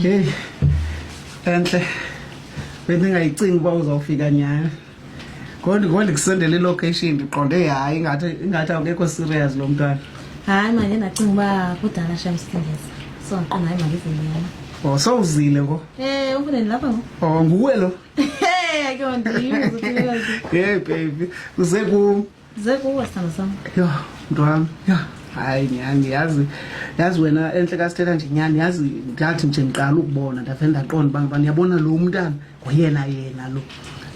Hey. Enhle. Bendingayicingi uba uzawufika nyhani. Ngondi ngondi kusendele ilocation ndiqonde hayi ingathi ingathi awukekho serious lo mntwana. Hayi manje ndacinga uba kudala shem sithengisa. So ndiqonda hayi manje izinyama. Oh sowuzile ngo. Eh ufune lapha ngo. Oh nguwe lo. Hey ke ndim. Hey baby. Uze ku zekuwe sithando sam yho mntu wam yho hayi nyhani yazi yazi wena entle kasithetha nje nyhani yazi ndathi nje ndiqala ukubona ndave ndaqonda uba ngubani yabona lo mntana ngoyena yena lo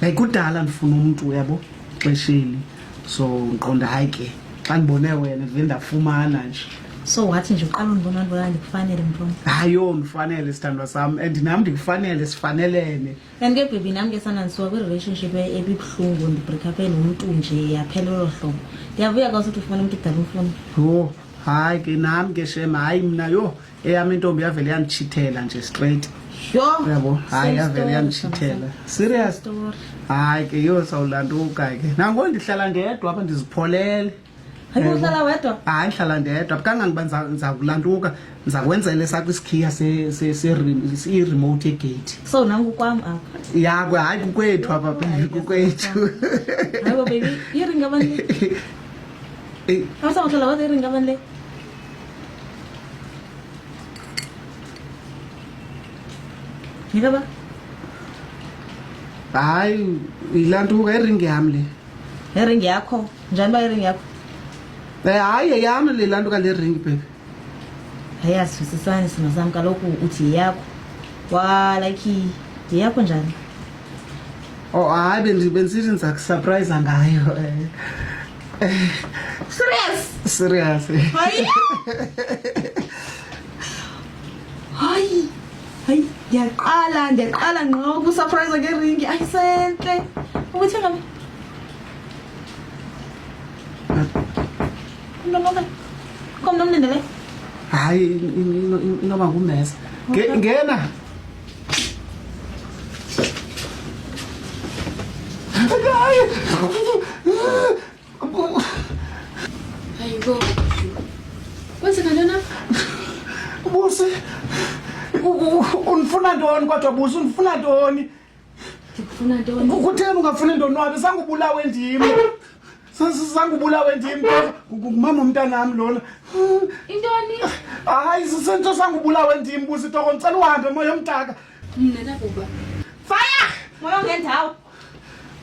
like kudala ndifuna umntu uyabo xesheli so ndiqonda hayi ke xa ndibone wena ndive ndafumana nje so wathi nje uqala undibona ndibona ndikufanele mntu wam hayi yho ndifanele sithandwa sam and nam ndikufanele sifanelene Ndandikebhebhi nam ke sana ndisuka kwi-relationship e-, ebibuhlungu ndibreakupe nomntu nje yaphela olo hlobo ndiyavuya xa usithi ufumana umntu udala umfuna yho hayi ke nam ke shem hayi mna yho eyam intombi yavele yanditshithela nje straight yho yabo hayi yavele yanditshithela serious hayi ke yho sawulanduka ke nango ndihlala ndedwa apha ndizipholele hayi hlala ndedwa kangangoba ndizakulantuka ndizakwenzela esakho isikhiya i-remote egate so nangukwam apha yakwe hayi kukwethu apha bebi kukwethu iringi abani asakuhlala wade iringi abani le ngikaba hayi ilantuka iringi yam le iringi yakho njani uba iringi yakho Eh, hayi yeyam le laa nto kale ring baby hayi asivisisani simo sam kaloku uthi yeyakho wa like yeyakho njani o oh, hayi bendi- bendisithi ndiza kusurprisa ngayo eh, serious serious hayi hayi hayi ndiyaqala ndiyaqala ngqo kusurprise ngeringi ayisentle ubuthengabi Komna mlindele. Hayi inoba ngumesa. Ngena. Hayi. Hayibo. Kwenzeka ntona? Busi. Unifuna ntoni kodwa Busi? Unifuna ntoni? ndikufuna ntoni kutheni ungafuni ndonwabe sangubulawe ndim sangubulawe ndim ngumama umntanam lona intoni hayi sisento sangubulawe ndim busitoko ndicela uhambe moya omtaka mna ndakuba faya moya ongendawo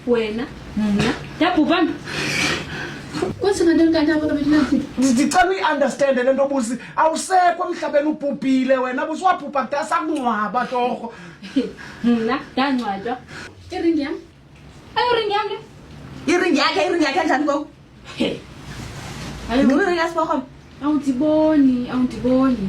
wena mna ndabhubhana ndicela uyiunderstande le nto busi awusekho emhlabeni ubhubhile wena busi wabhubha kudala sakungcwaba torho na danwa jo iringi yam ayo ringi yam de iringi yake iringi yake njani ko ayo ngiri yas bokom awutiboni awutiboni